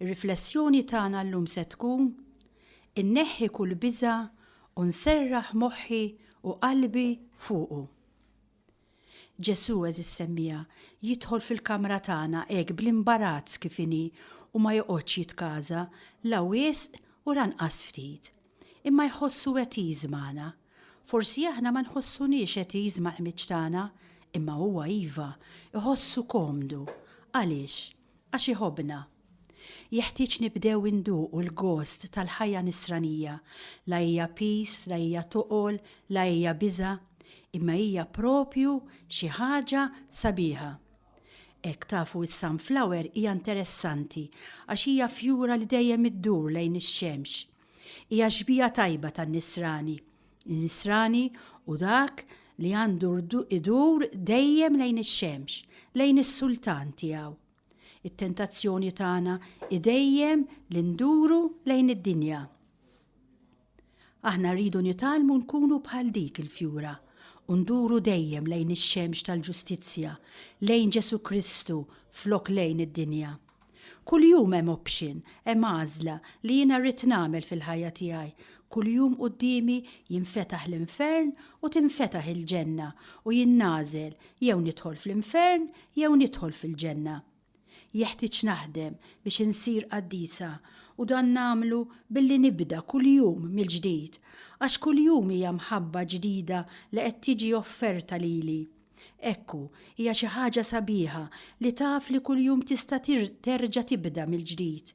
Ir-riflessjoni tagħna llum se tkun, Inneħħi kull biża' u nserraħ moħħi u qalbi fuqu. Ġesù eżis semmiegħa jidħol fil-kamra tagħna hekk bl-imbarazz kif inhi u ma joqgħodx jitkaża la wisq u lanqas ftit. Imma jħossu għetiż magħna. Forsi aħna ma nħossuniex għetiż mal-ħmieġ tagħna, imma huwa iva, iħossu komdu. Għaliex? Għax iħobbna. Jeħtieġ nibdew induqu l-gost tal-ħajja Nisranija, la hija piż, la hija toqol, la hija biża', imma hija proprju xi ħaġa sabiħa. Hekk, tafu, is-sunflower hija interessanti għax hija fjura li dejjem iddur lejn ix-xemx. Hija xbieha tajba tan-Nisrani. Nisrani hu dak li għandu idur dejjem lejn ix-xemx, lejn is-Sultan tiegħu. It-tentazzjoni tagħna hi dejjem li nduru lejn id-dinja. Aħna rridu nitgħallmu nkunu bħal dik il-fjura u nduru dejjem lejn ix-xemx tal-ġustizzja, lejn Ġesù Kristu flok lejn id-dinja. Kuljum hemm option, hemm għażla, li jiena rrid nagħmel fil-ħajja tiegħi. Kuljum quddiemi jinfetaħ l-infern u tinfetaħ il-ġenna u jien nagħżel jew nidħol fl-infern jew nidħol fil-ġenna. Jeħtieġ naħdem biex insir qaddisa u dan nagħmlu billi nibda kuljum mill-ġdid għax kuljum hija mħabba ġdida li qed tiġi offerta lili. Ekku, hija xi ħaġa sabiħa li taf li kuljum tista' terġa' tibda mill-ġdid.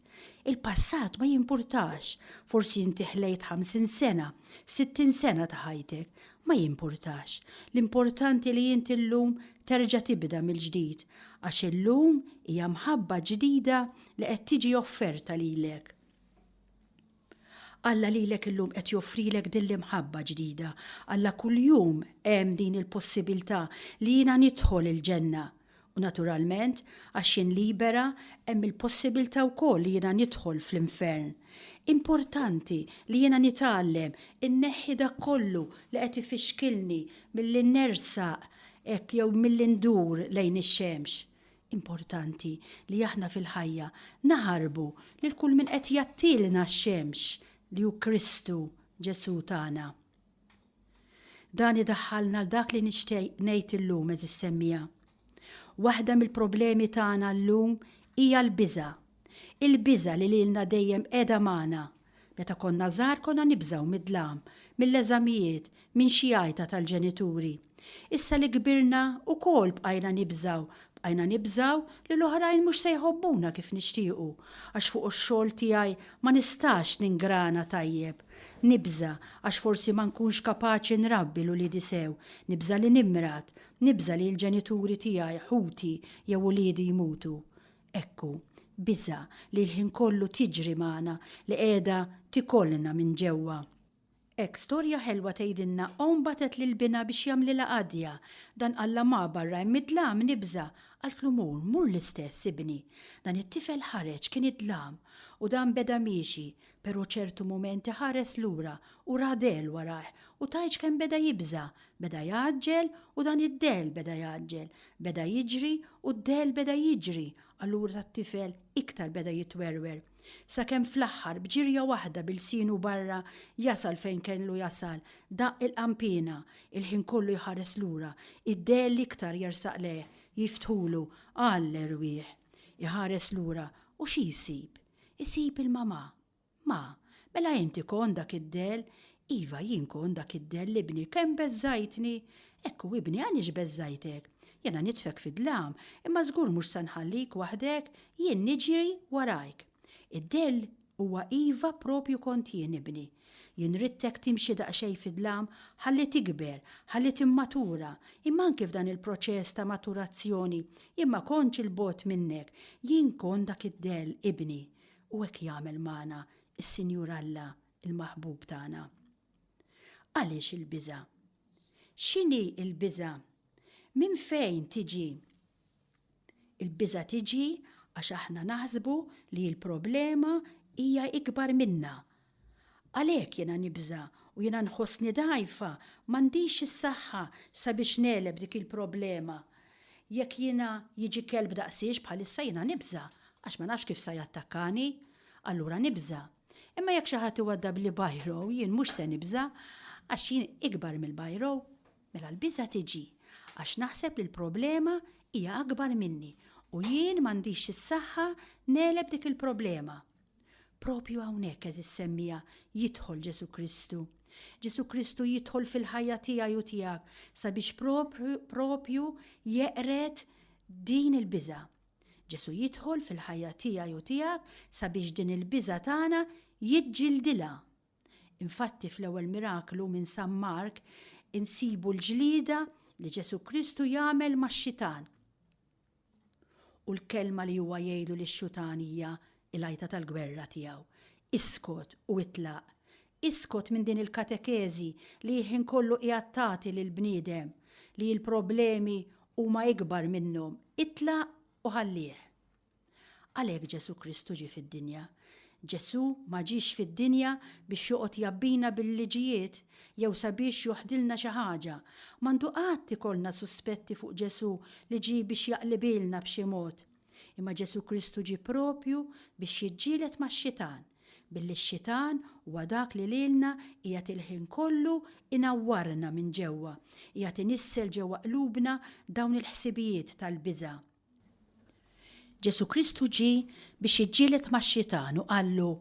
Il-passat ma jimpurtax, forsi inti ħlejt 50 sena, 60 sena ta' ħajtek, ma jimpurtax. L-importanti li inti llum terġa' tibda mill-ġdid, għax illum hija mħabba ġdida li qed tiġi offerta lilek. Alla lilek illum qed joffrilek din l-imħabba ġdida. Alla kuljum hemm din il-possibilità li jiena nidħol il-ġenna. U naturalment, għax jien libera, hemm il-possibilità wkoll li jiena nidħol fl-infern. Importanti li jiena nitgħallem inneħħi dak kollu li qed ifixkilni milli nersaq hekk jew milli ndur lejn ix-xemx. Importanti li aħna fil-ħajja naħarbu lil kull min qed jgħattilna x-xemx li hu Kristu Ġesù tagħna. Dan idaħħalna l dak li nixtieq ngħid illum eżis semmija. Waħda mill-problemi tagħna llum hija l-biża' Il-biża' li lilna dejjem qiegħda magħna. Meta konna żgħar konna nibżgħu mid-dlam, mill-eżamijiet, minn xi għajta tal-ġenituri. Issa li kbirna, ukoll bqajna nibżgħu, bqajna nibżgħu li l-oħrajn mhux se jħobbuna kif nixtiequ, għax fuq ix-xogħol tiegħi ma nistax ningrana tajjeb. Nibża' għax forsi ma nkunx kapaċi nrabbi 'l uliedi sew, nibża' li nimrad, nibża' li l-ġenituri tiegħi, ħuti jew uliedi jmutu. Hekk hu, biża' li l-ħin kollu tiġri magħna, li qiegħda tikolna minn ġewwa. Hekk storja ħelwa tgħidilna omm bagħtet lil binha biex jagħmlilha qadja. Dan qallha ma' barra hemm id-dlam, nibża'. Qaltlu mur, mur l-istess, ibni. Dan it-tifel ħareġ, kien id-dlam. U dan beda miexi, Pero' ċertu mumenti ħares lura u ra dell warajh u tgħidx kemm beda jibża', beda jgħaġġel u dan id-dell beda jgħaġġel, beda jiġri u d-dell beda jiġri, allura t-tifel iktar beda jitwerwer. Sakemm fl-aħħar b'ġirja waħda b'ilsienu barra jasal fejn kellu jasal, daqq il-qanpiena, il-ħin kollu jħares lura, id-dell iktar jersaq lejh, jiftħulu, għall-erwieħ. Iħares lura u xi jsib? Isib il-mamà. Ma, mela inti kont dak id-dell? Iva, jien kont dak id-dell, ibni, kemm beżżgħajtni! Ekku, ibni, għaliex beżżgħajtek? Jiena nitfek fid-dlam, imma żgur mhux se nħallik waħdek, jien niġri warajk. Id-dell huwa iva proprju kont jien, ibni. Jien ridtek timxi daqsxejn fid-dlam ħalli tikber, ħalli timmatura, imma anki f'dan il-proċess ta' maturazzjoni jien ma kontx 'il bogħod minnek, jien kont dak id-dell ibni. U hekk jagħmel magħna s-Sinjur Alla, il-Maħbub tagħna. Għaliex il-biża'? X'inhi l-biża'? Minn fejn tiġi? Il-biża' tiġi għax aħna naħsbu li l-problema hija ikbar minna. Għalhekk jiena nibża' u jiena nħossni dgħajfa, m'għandix is-saħħa sabiex negħleb dik il-problema. Jekk jiena jiġi kelb daqsiex bħalissa jiena nibża' għax ma nafx kif sa jattakkani. Allura nibża'. Imma jekk xi ħadd iwaddabli bajrow jien mhux se nibża' għax jien ikbar mill-bajrow. Mela l-biża' tiġi għax naħseb li l-problema hija akbar minni u jien m'għandix is-saħħa negħleb dik il-problema. Proprju hawnhekk, għeżież semmiegħa, jidħol Ġesù Kristu. Ġesù Kristu jidħol fil-ħajja tiegħi u tiegħek sabiex proprju jeqred din il-biża'. Ġesù jidħol fil-ħajja tiegħi u tiegħek sabiex din il-biża' tagħna jiġġildilha Infatti fl-ewwel miraklu minn San Mark insibu l-ġlieda li Ġesù Kristu jagħmel max-xitan. U l-kelma li huwa jgħidu lix-xutan hija l-għajta tal-gwerra tiegħu. Iskot u itlaq. Iskot minn din il-katekeżi li jħin kollu qiegħed tagħti lill-bniedem li l-problemi huma ikbar minnhom. Itlaq u ħallih. Għalhekk Ġesù Kristu ġie fid-dinja. Ġesù ma ġiex fid-dinja biex joqgħod jgħabbina bil-liġijiet jew sabiex joħdilna xi ħaġa. M'għandu qatt ikollna suspetti fuq Ġesù li ġie biex jaqlibilna b'xi mod. Imma Ġesù Kristu ġie proprju biex jiġġieled max-Xitan, billi x-Xitan huwa dak li lilna qiegħed il-ħin kollu jnawwarna minn ġewwa, qiegħed inissel ġewwa qlubna dawn il-ħsibijiet tal-biża'. Ġesù Kristu ġie biex jiġġieled max-Xitan u qallu,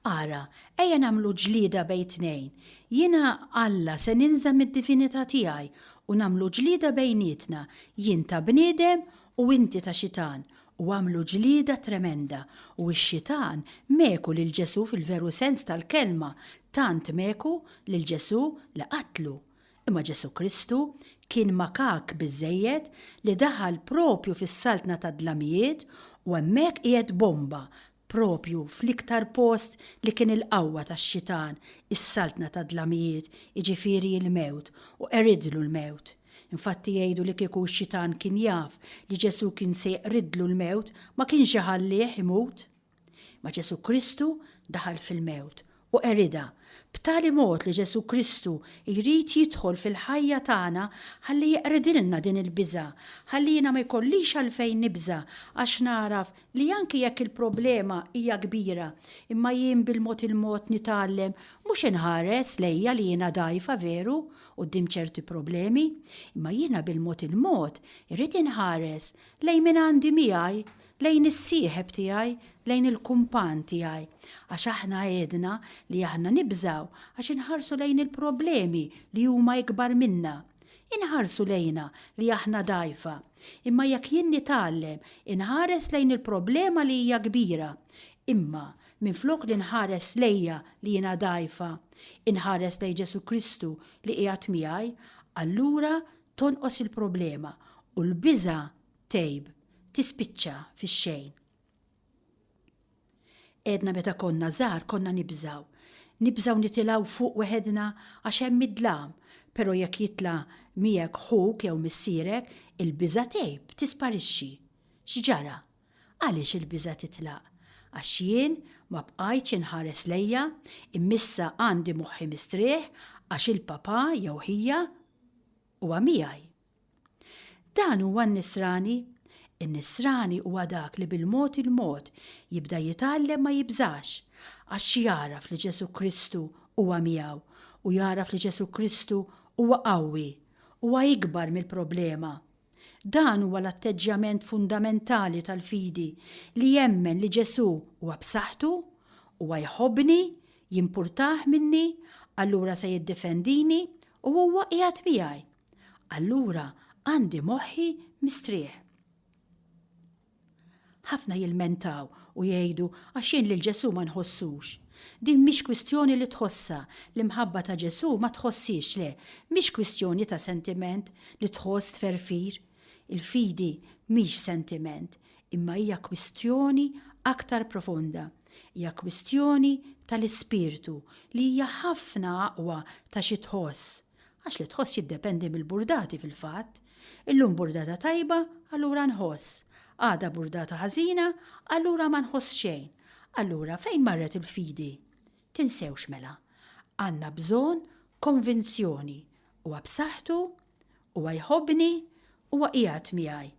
Ara, ejja nagħmlu ġlieda bejn tnejn. Jiena, Alla, se ninża' mid-divinità tiegħi u nagħmlu ġlieda bejnietna, jien ta' bniedem u inti ta' xitan. U għamlu ġlieda tremenda, u x-Xitan meku lil Ġesù fil-veru sens tal-kelma, tant meku lil Ġesù li qatlu. Imma Ġesù Kristu kien makak biżżejjed li daħal proprju fis-saltna tad-dlamijiet u hemmhekk qiegħed bomba proprju fl-iktar post li kien il-qawwa tax-xitan, is-saltna tad-dlamijiet, jiġifieri l-mewt, u qeridlu l-mewt. Infatti jgħidu li kieku x-xitan kien jaf li Ġesù kien se jeqridlu l-mewt ma kienx iħallih imut. Ma Ġesu' Kristu daħal fil-mewt u qeridha, b'tali mod li Ġesu' Kristu jrid jidħol fil-ħajja tagħna ħalli jeqridilna din il-biża', ħalli jiena ma jkollix għalfejn nibża' għax nagħraf li anki jekk il-problema hija kbira imma jien bil-mod il-mod nitgħallem mhux inħares lejja li jiena dgħajfa veru quddiem ċerti problemi, imma jiena bil-mod il-mod irrid inħares lejn min għandi miegħi Lejn is-sieħeb tiegħi, lejn il-kumpann tiegħi. Għax aħna għedna li aħna nibżgħu għax inħarsu lejn il-problemi li huma ikbar minna. Inħarsu lejna li aħna dgħajfa. Imma jekk jien nitgħallem inħares lejn il-problema li hija kbira, imma minflok li nħares lejja li jiena dgħajfa, inħares lejn Ġesù Kristu li qiegħed miegħi, allura tonqos il-problema u l-biża' tgħib, tispiċċa fix-xejn. Għedna meta konna żgħar konna nibżaw. Nibżaw nitilgħu fuq weħedna għax hemm id-dlam, però jekk jitla' miegħek ħuk jew missierek, il-biża' tgħib, tisparixxi. X'ġara? Għaliex il-biża' titlaq? Għax jien ma bqajtx inħares lejja, immissa għandi moħħi mistrieħ għax il-papà jew ħija huwa miegħi. Dan huwa n-nisrani. In-nisrani huwa dak li bil-mod il-mod jibda jitgħallem ma jibżax, għax jagħraf li Ġesù Kristu huwa miegħu u jagħraf li Ġesù Kristu huwa qawwi, huwa ikbar mill-problema. Dan huwa l-atteġġjament fundamentali tal-fidi li jemmen li Ġesù huwa b'saħħtu, huwa jħobbni, jimpurtah minni, allura se jiddifendini u huwa qiegħed miegħi. allura għandi moħħi mistrieħ. Ħafna jilmentaw u jgħidu għax jien lil Ġesù ma nħossux. Din mhix kwistjoni li tħossha, l-imħabba ta' Ġesù ma tħossiex le, mhix kwistjoni ta' sentiment li tħoss tferfir. Il-fidi mhix sentiment, imma hija kwistjoni aktar profonda. Hija kwistjoni tal-ispirtu li hija ħafna aqwa ta' xi tħoss. Għax li tħoss jiddependi mill-burdati fil-fatt. Illum burdata tajba, allura nħoss. Għada burdata ħażina, allura ma nħoss xejn. Allura fejn marret il-fidi? Tinsewx mela. Għandna bżonn konvinzjoni. Huwa b'saħħtu, Huwa jħobbni, Huwa qiegħed miegħi.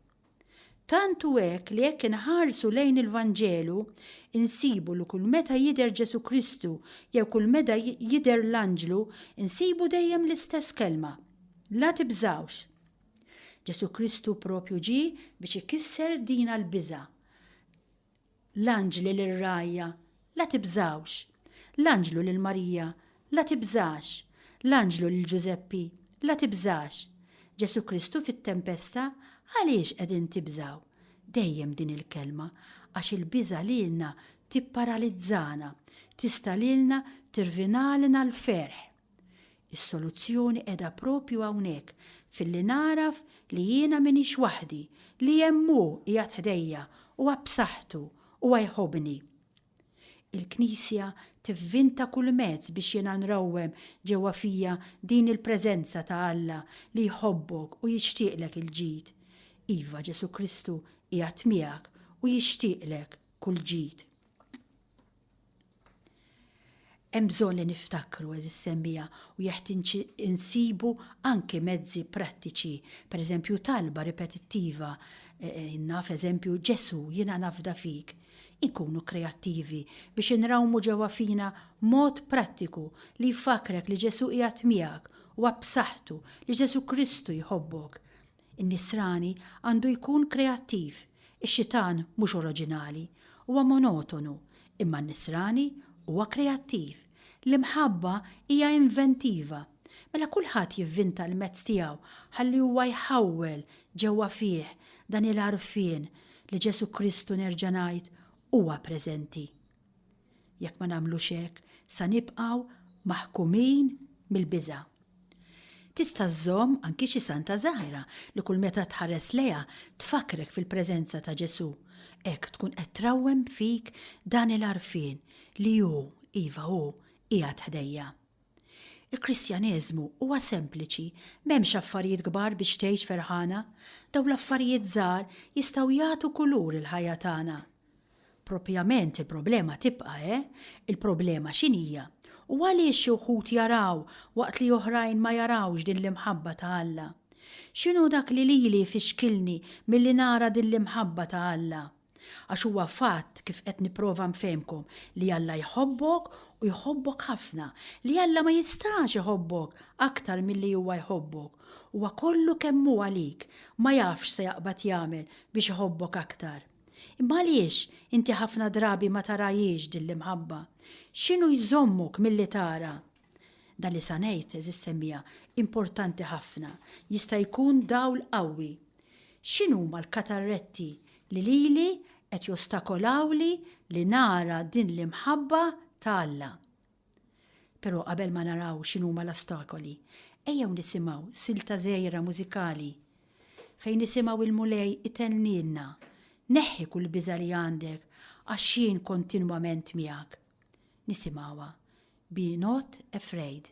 Tant hu hekk li jekk inħarsu lejn il-Vanġelu, insibu li kull meta jidher Ġesù Kristu jew kull meta jidher l-anġlu, insibu dejjem l-istess kelma, La tibżgħux. Ġesù Kristu proprju ġie biex ikisser dina l-biża'. L-anġli lir-rgħajja, La tibżgħux! L-anġlu lil Marija, La tibżax! L-anġlu lil Ġużeppi, La tibżax! Ġesù Kristu fit-tempesta, Għaliex qegħdin tibżgħu? Dejjem din il-kelma, għax il-biża' lilna tipparalizzana, tista' lilna tirvinalna l-ferħ. Is-soluzzjoni qiegħda proprju hawnhekk filli nagħraf li jiena m'iniex waħdi, li hemm Hu qiegħed ħdejja, Huwa b'saħħtu, Huwa jħobbni. Il-Knisja tivvinta kull mezz biex jiena nrawwem ġewwa fija din il-preżenza ta' Alla li jħobbok u jixtieqlek il-ġid. Iva, Ġesù Kristu qiegħed miegħek u jixtieqlek kull ġid. Hemm bżonn li niftakru, għeżież semmiegħa, u jeħtieġ insibu anki mezzi prattiċi, pereżempju talba ripetittiva, naf eżempju, Ġesù, jiena nafda fik. Inkunu kreattivi biex inrawmu ġewwa fina mod prattiku li jfakkrek li Ġesù qiegħed miegħek, huwa b'saħħtu, li Ġesù Kristu jħobbok. In-Nisrani għandu jkun kreattiv, ix-Xitan mhux oroġinali, huwa monotonu, imma n-Nisrani huwa kreattiv. L-imħabba hija inventiva. Mela kulħadd jivvinta l-mezz tiegħu ħalli huwa jħawwel ġewwa fih dan il-għarfien li Ġesù Kristu nerġa' ngħid huwa preżenti. Jekk ma nagħmlux hekk, sa nibqgħu maħkumin mill-biża'. Tista' żżomm anki xi santa żgħira li kull meta tħares lejha tfakkrek fil-preżenza ta' Ġesù. Hekk tkun qed trawwem fik dan il-għarfien li hu, iva hu, qiegħed ħdejja. Il-Kristjaneżmu huwa sempliċi, m'hemmx affarijiet kbar biex tgħix ferħana, dawn l-affarijiet żgħar jistgħu jagħtu kulur il-ħajja tagħna. Proprjament il-problema tibqa', eh, il-problema x'inhija u għaliex xi wħud jaraw waqt li oħrajn ma jarawx din l-imħabba ta' Alla? X'inhu dak li lili jfixkilni milli nara din l-imħabba ta' Alla? Għax huwa fatt, kif qed nipprova nfehmkom, li Alla jħobbok u jħobbok ħafna, li Alla ma jistax iħobbok aktar milli huwa jħobbok. Huwa kollu kemm hu għalik, ma jafx se jaqbad jagħmel biex iħobbok aktar. Imma għaliex inti ħafna drabi ma tarahiex din l-imħabba? X'inhu jżommok milli tara? Dan li sa ngħid, għeżież semmiegħa, importanti ħafna, jista' jkun dawl qawwi. X'inhuma l-katarretti li lili qed jostakolawli li nara din l-imħabba ta' Alla? Però qabel ma naraw x'inhuma l-ostakoli, ejjew nisimgħu silta żgħira mużikali fejn nisimgħu l-Mulej itennilna, Neħħi kull biża' li għandek għax jien kontinwament miegħek. Nisimgħuha Be not afraid.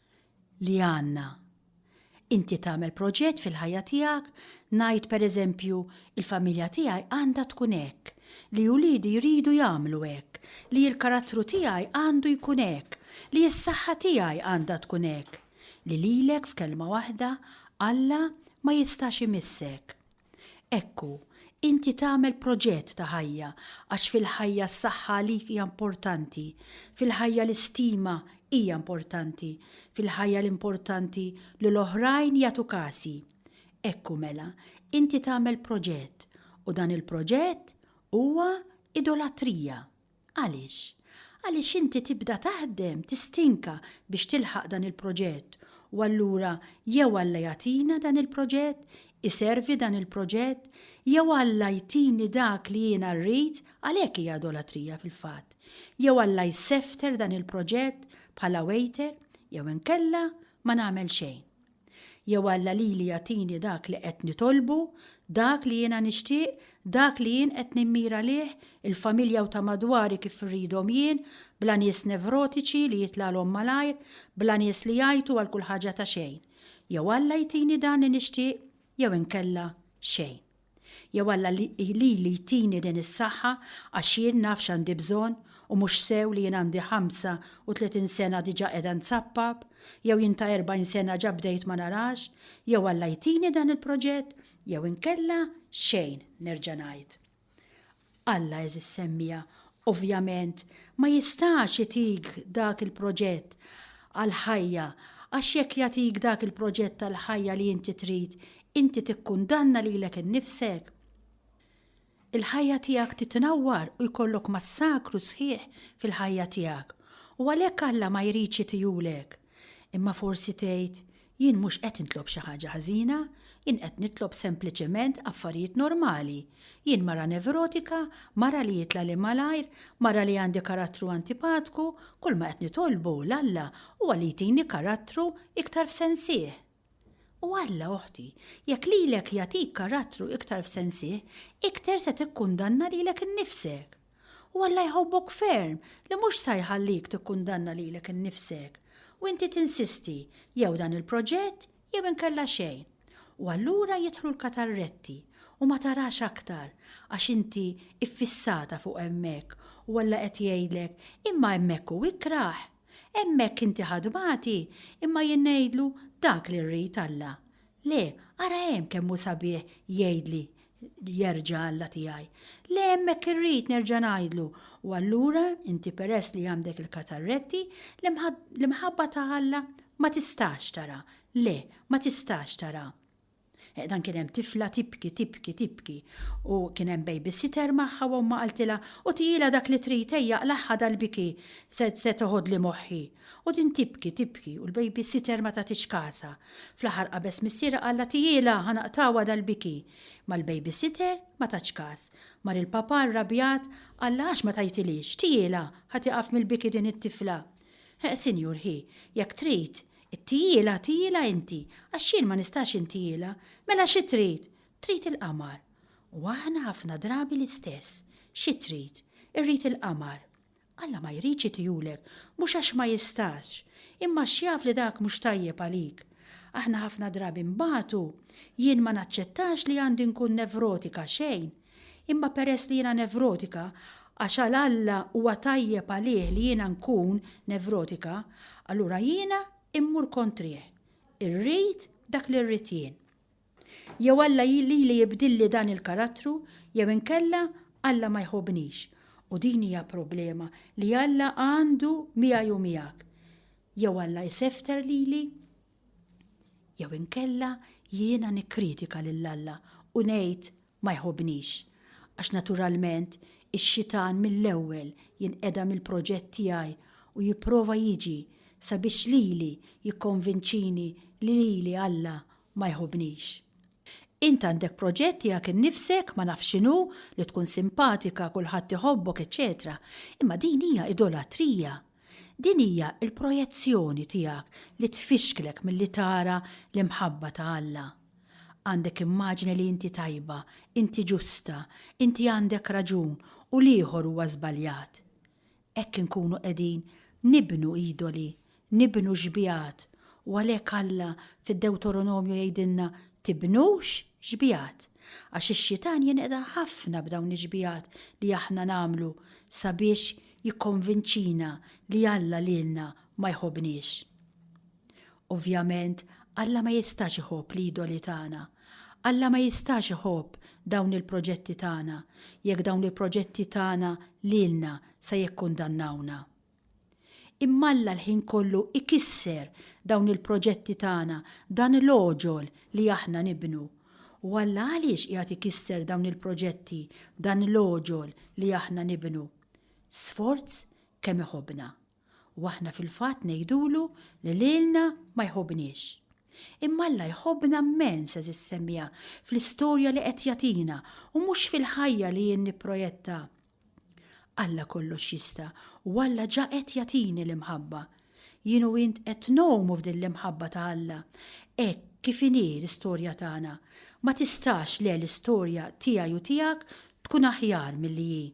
li għandna. Inti tagħmel proġett fil-ħajja tiegħek, ngħid pereżempju, il-familja tiegħi għandha tkun hekk, li uliedi jridu jagħmlu hekk, li l-karattru tiegħi għandu jkun hekk, li s-saħħa tiegħi għandha tkun hekk, li lilek f'kelma waħda Alla ma jistax imissek. Hekk hu, inti tagħmel proġett ta' ħajja għax fil-ħajja s-saħħa għalik hija importanti, fil-ħajja l-istima hija importanti, fil-ħajja l-importanti li l-oħrajn jagħtu kasi. Hekk hu mela, inti tagħmel proġett u dan il-proġett huwa idolatrija. Għaliex? Għaliex inti tibda taħdem, tistinka biex tilħaq dan il-proġett u allura jew Alla jagħtina dan il-proġett, iservi dan il-proġett, jew Alla jtini dak li jiena rrid, għalhekk hija idolatrija fil-fatt, jew Alla jsefter dan il-proġett bħala waiter, jew inkella ma nagħmel xejn. Jew Alla lili jagħtini dak li qed nitolbu, dak li jiena nixtieq, dak li jien qed nimmira lih, il-familja u ta' madwari kif irridhom jien, bla nies nevrotiċi li jitlagħlhom malajr, bla nies li jgħajtu għal kull ħaġa ta' xejn. Jew Alla jtini dan li nixtieq jew inkella xejn. Jew Alla lili jtini din is-saħħa għax jien naf x'għandi bżonn u mhux sew li jien għandi 35 sena diġa qiegħda nsappab, jew jien ta' 40 sena ġa bdejt ma narax, jew Alla jtini dan il-proġett jew inkella xejn, nerġa' ngħid. Alla għeżież semmiegħa, ovvjament, ma jistax itik dak il-proġett għall-ħajja għax jekk jagħtik dak il-proġett tal-ħajja li inti trid, inti tikkundanna lilek innifsek. Il-ħajja tiegħek titnawwar u jkollok massakru sħiħ fil-ħajja tiegħek. U għalhekk Alla ma jridx itihulek. Imma forsi tgħid, 'Jien mhux qed nitlob xi ħaġa ħażina, jien qed nitlob sempliċement affarijiet normali. Jien mara nevrotika, mara li jitlagħli malajr, mara li għandi karattru antipatku, kulma qed nitolbu 'l Alla huwa li jtini karattru iktar f'sensih. U Alla, oħti, jekk lilek jagħtik karattru iktar f'sensih, iktar se tikkundanna lilek innifsek. U Alla jħobbok ferm li mhux sa jħallik tikkundanna lilek innifsek, u inti tinsisti, jew dan il-proġett jew inkella xejn. U allura jidħlu l-katarretti, u ma tarax aktar, għax inti iffissata fuq hemmhekk, u Alla qed jgħidlek, imma hemmhekk hu ikrah. Hemmhekk inti ħa tbati, imma jien ngħidlu dak li rrid Alla. Le, ara hemm kemm hu sabiħ jgħidli jerġa' Alla tiegħi. Le hemmhekk irrid nerġa' ngħidlu u allura inti peress li għandek il-katarretti, l-imħabba ta' Alla ma tistax tara. Le, ma tistax tara. Dan kien hemm tifla tibki, tibki, tibki u kien hemm babysitter magħha u omma qaltilha u tijila dak li trid ejja qlagħha dal-biki se se toħodli moħħi. U din tibki, tibki u l-babysitter ma tagħtix kasha. Fl-aħħar qabeż missierha qallha tijila ħa naqtgħuha dal-biki. Ma l-babysitter ma tatx kas. Mar il-papà rrabjat qallha għax ma tajtilix, tijila ħa tieqaf mill-biki din it-tifla. Sinjur ħi, jekk trid, Ittijielha, tijielha inti, għax jien ma nistax intijielha. Mela xi trid? Trid il-qamar. U aħna ħafna drabi l-istess. Xi trid? Irrid il-qamar. Alla ma jridx itihulek, mhux għax ma jistax, imma għax jaf li dak mhux tajjeb għalik. Aħna ħafna drabi nbatu. Jien ma naċċettax li għandi nkun nevrotika xejn. Imma peress li jiena nevrotika, għax għal Alla huwa tajjeb għalih li jiena nkun nevrotika, allura jiena mmur kontrih. Irrid dak li rrid jien. Jew Alla lili jibdilli dan il-karattru jew inkella Alla ma jħobbnix. U din hija problema li Alla għandu miegħi u miegħek. Jew Alla jsefter lili Jew inkella jiena nikkritika lil Alla u ngħid ma jħobbnix, għax naturalment ix-xitan mill-ewwel jinqeda mill-proġett tiegħi u jipprova jiġi sabiex lili jikkonvinċini li lili Alla ma jħobbnix. Int għandek proġett tiegħek innifsek, ma nafx x'inhu, li tkun simpatika, kulħadd iħobbok, eċċetera Imma din hija idolatrija. Din hija l-projezzjoni tiegħek li tfixklek milli tara l-imħabba ta' Alla. Għandek immaġni li inti tajba, inti ġusta, inti għandek raġun u l-ieħor huwa żbaljat. Hekk inkunu qegħdin nibnu idoli, nibnu xbigħat, u għalhekk Alla fid-Dewtoronomju jgħidilna tibnux xbigħat, għax ix-Xitan jinqeda' ħafna b'dawn ix-xbigħat li aħna nagħmlu sabiex jikkonvinċina li Alla lilna ma jħobbniex. Ovvjament, Alla ma jistax iħobb l-idoli tagħna. Alla ma jistax iħobb dawn il-proġetti tagħna jekk dawn il-proġetti tagħna lilna se jikkundannawna. Imma Alla l-ħin kollu ikisser dawn il-proġetti tagħna, dan l-għoġol li aħna nibnu. U Alla għaliex qiegħed ikisser dawn il-proġetti, dan l-għoġol li aħna nibnu? Sforz kemm iħobbna, u aħna fil-fatt ngħidulu li lilna ma jħobbniex. Imma Alla jħobbna mmens għeżiż semmiegħa fl-istorja li qed jagħtina u mhux fil-ħajja li jien nipprojetta. Alla kollox jista' u Alla ġa qed jagħtini l-imħabba. Jien u int qed ngħumu f'din l-imħabba ta' Alla. Hekk kif inhi l-istorja tagħna, ma tistax le l-istorja tiegħi u tiegħek tkun aħjar milli hi.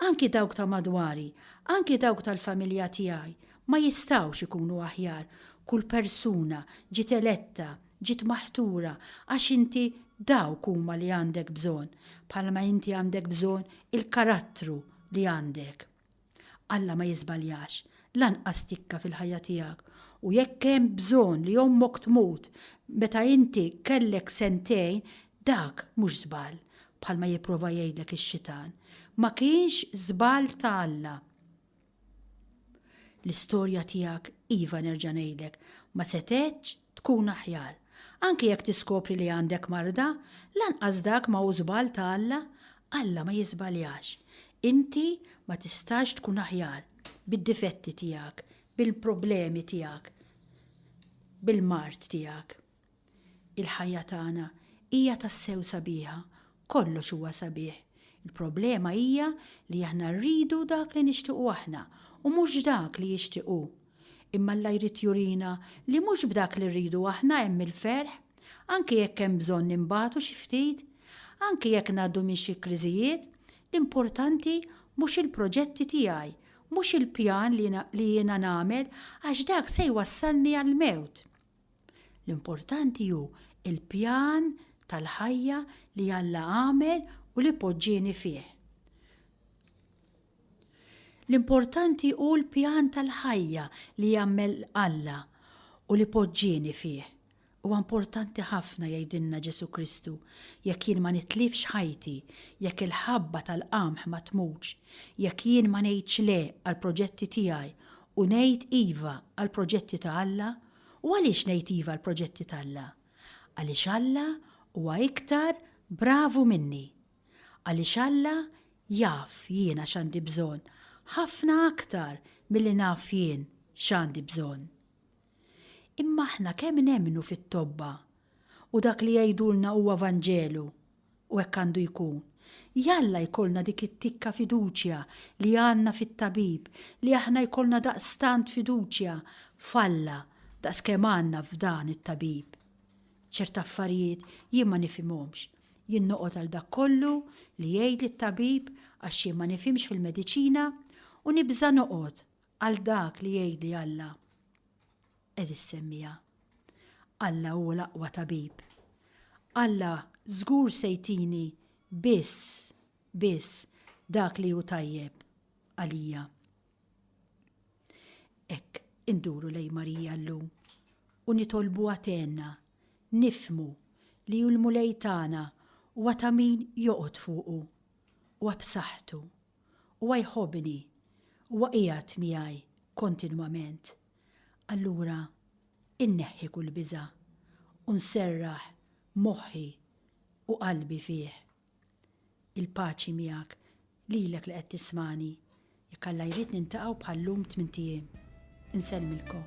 Anki dawk ta' madwari, anki dawk tal-familja tiegħi, ma jistgħux ikunu aħjar, kull persuna ġiet eletta, ġiet maħtura għax inti dawk huma li għandek bżonn, bħalma inti għandek bżonn il-karattru li għandek. Alla ma jiżbaljax, lanqas tikka fil-ħajja tiegħek, u jekk hemm bżonn li ommok tmut meta inti kellek sentejn, Dak mhux żball, bħalma jipprova jgħidlek ix-xitan. Ma kienx żball ta' Alla. L-istorja tiegħek, iva nerġa' ngħidlek, ma setgħetx tkun aħjar. Anki jekk tiskopri li għandek marda, lanqas dak ma hu żball ta' Alla. Alla ma jiżbaljax. Inti ma tistax tkun aħjar, bid-difetti tiegħek, bil-problemi tiegħek, bil-mard tiegħek. Il-ħajja tagħna hija tassew sabiħa, kollox huwa sabiħ. Il-problema hija li aħna rridu dak li nixtiequ aħna u mhux dak li jixtieq hu. Imma Alla jrid jurina li mhux b'dak li rridu aħna hemm il-ferħ, anki jekk hemm bżonn inbatu xi ftit. Anki jekk ngħaddu minn xi kriżijiet, l-importanti mhux il-proġetti tiegħi, mhux il-pjan li jiena nagħmel għax dak se jwassalni għall-mewt. L-importanti hu l-pjan tal-ħajja li Alla għamel u li poġġieni fih. L-importanti hu l-pjan tal-ħajja li għamel Alla u li poġġieni fih. Huwa importanti ħafna jgħidilna Ġesù Kristu, jekk jien ma nitlifx ħajti, jekk il-ħabba tal-qamħ ma tmutx, jekk jien ma ngħidx le għall-proġetti tiegħi U ngħid iva għall-proġetti ta' Alla. U għaliex ngħid iva għall-proġetti t'Alla? Għaliex Alla huwa iktar bravu minni. Għaliex Alla jaf jiena x'għandi bżonn ħafna aktar milli naf jien x'għandi bżonn. Imma aħna kemm nemmnu fit-tobba u dak li jgħidulna huwa Vanġelu U hekk għandu jkun. Jalla jkollna dik it-tikka fiduċja li għandna fit-Tabib, li aħna jkollna daqstant fiduċja f'Alla daqskemm għandna f'dan it-Tabib. Ċert affarijiet jien ma nifhimhomx. Jien noqgħod għal dak kollu li jgħidli t-Tabib għax jien ma nifhimx fil-mediċina u nibża' noqgħod għal dak li jgħidli Alla. għeżiż semmiegħa. Alla hu l-aqwa tabib. Alla żgur se jtini biss, biss dak li hu tajjeb għalija. Hekk induru lejn Marija llum u nitolbu għatenna, nifmu li hu l-Mulej tagħna u għata min joqgħod fuqu u għabsaħtu u għajħobni u għajat miegħi kontinwament. allura inneħħi kull biża' u nserraħ moħħi u qalbi fih. Il-paċi miegħek, lilek li qed tismagħni, jekk Alla jrid niltaqgħu bħal llum tmint ijiem. Insellmilkom.